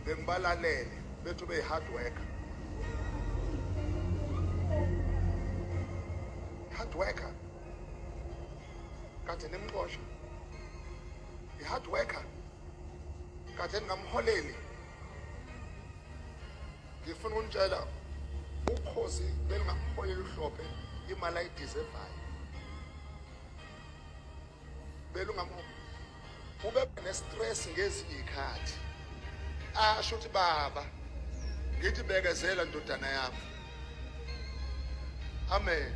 bengibalalele bethu beyi-hard worker hard worker kade nimxosha i-hard worker kade ningamholeli ngifuna ukunitshela ukhozi belingamholeli uhlophe imali ayidizevayo belungamubi ube ne-stress ngezinye iy'khathi asho ukuthi baba ngithi bekezela ndodana yami amen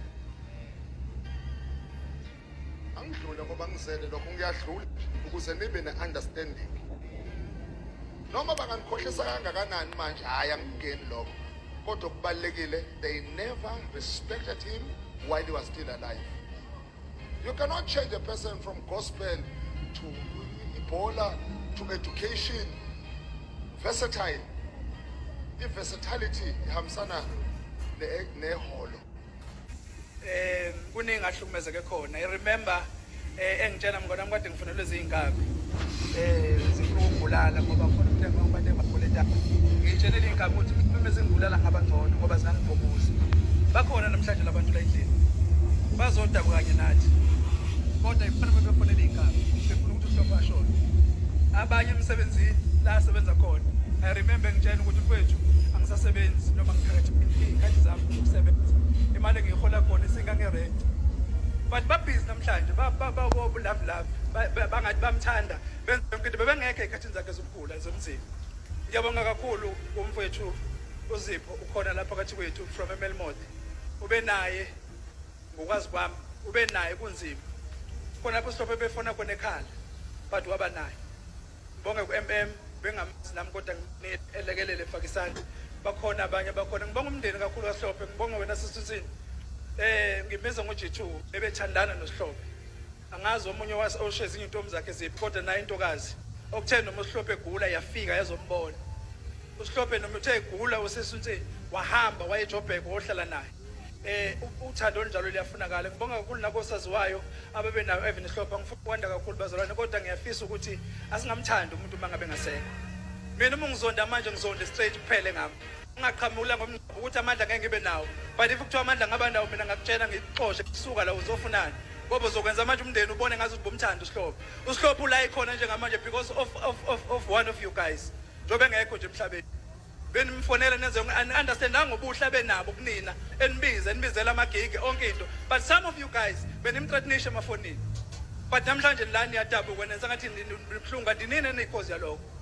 angidlule ngoba ngizele lokho ngiyadlula ukuze nibe ne-understanding noma banganikhohlisa kangakanani manje hhayi angikungeni lokho kodwa okubalulekile they never respected him while he was still alive You cannot change a person from gospel to ibhola to education versatile i-versatility ihambisana neholo um kuningi ahlukumezeke khona i remember um engitshela mngona mkade Kufanele ziyinkabi eh zifuna ukubulala ngoba khona umntwana wabantu abaguleta. Ngitshele leyinkabi ukuthi uma zingibulala ngabangcono ngoba zingangibhokuzi. Bakhona namhlanje labantu la endlini. Bazoda kanye nathi. Kodwa ifanele bebefonele inkabi. Befuna ukuthi uhlopha ashone. Abanye emsebenzini la asebenza khona. I remember ngitshela ukuthi kwethu angisasebenzi noma ngiphakathi ikhadi zami ukusebenza. Imali engiyihola khona isingange rent. But babhizi namhlanje bababobulavilavi bangathi bamthanda benza yonke into bebengekho ey'khathini zakhe zokugula zomzimba ngiyabonga kakhulu kumfowethu uzipho ukhona lapha phakathi kwethu from emelmouth ube naye ngokwazi kwami ube naye kunzima khona lapho sihlophe befona khona ekhala but waba naye Ngibonge ku-MM bengamazi nami kodwa elekelele efake isandla bakhona abanye bakhona ngibonga umndeni kakhulu kahlophe ngibonga wena sisithini eh ngimbiza ngo-G2 ebethandana noSihlobo angazi omunye osho ezinye intombi zakhe ziphi kodwa naye intokazi okuthe noma uSihlobo egula yafika yazombona uSihlobo noma uthe egula usesunsini wahamba wayejobheka wohlala naye eh uthando olunjalo liyafunakala ngibonga kakhulu nakosaziwayo ababenayo even ihlopha ngifuna ukwanda kakhulu bazalwane kodwa ngiyafisa ukuthi asingamthandi umuntu uma ngabe ngasekho mina uma ngizonda manje ngizonde straight kuphele ngami ungaqhamula ngomngcebo ukuthi amandla ngeke ngibe nawo but if kuthiwa amandla ngaba nawo mina ngakutshela ngikuxoshe kusuka la uzofunani ngoba uzokwenza manje umndeni ubone ngathi ubomthanda usihlophe usihlophe ula ikhona njengamanje because of, of, of, of one of you guys njengoba engekho nje emhlabeni benimfonela nenze understandanga ubuhle abenabo kunina enibiza enibizela amagigi onke into but some of you guys benimthreatnisha emafonini but namhlanje lani yadabuka nenza ngathi nibuhlungu kanti nini eniyikhozi yalokho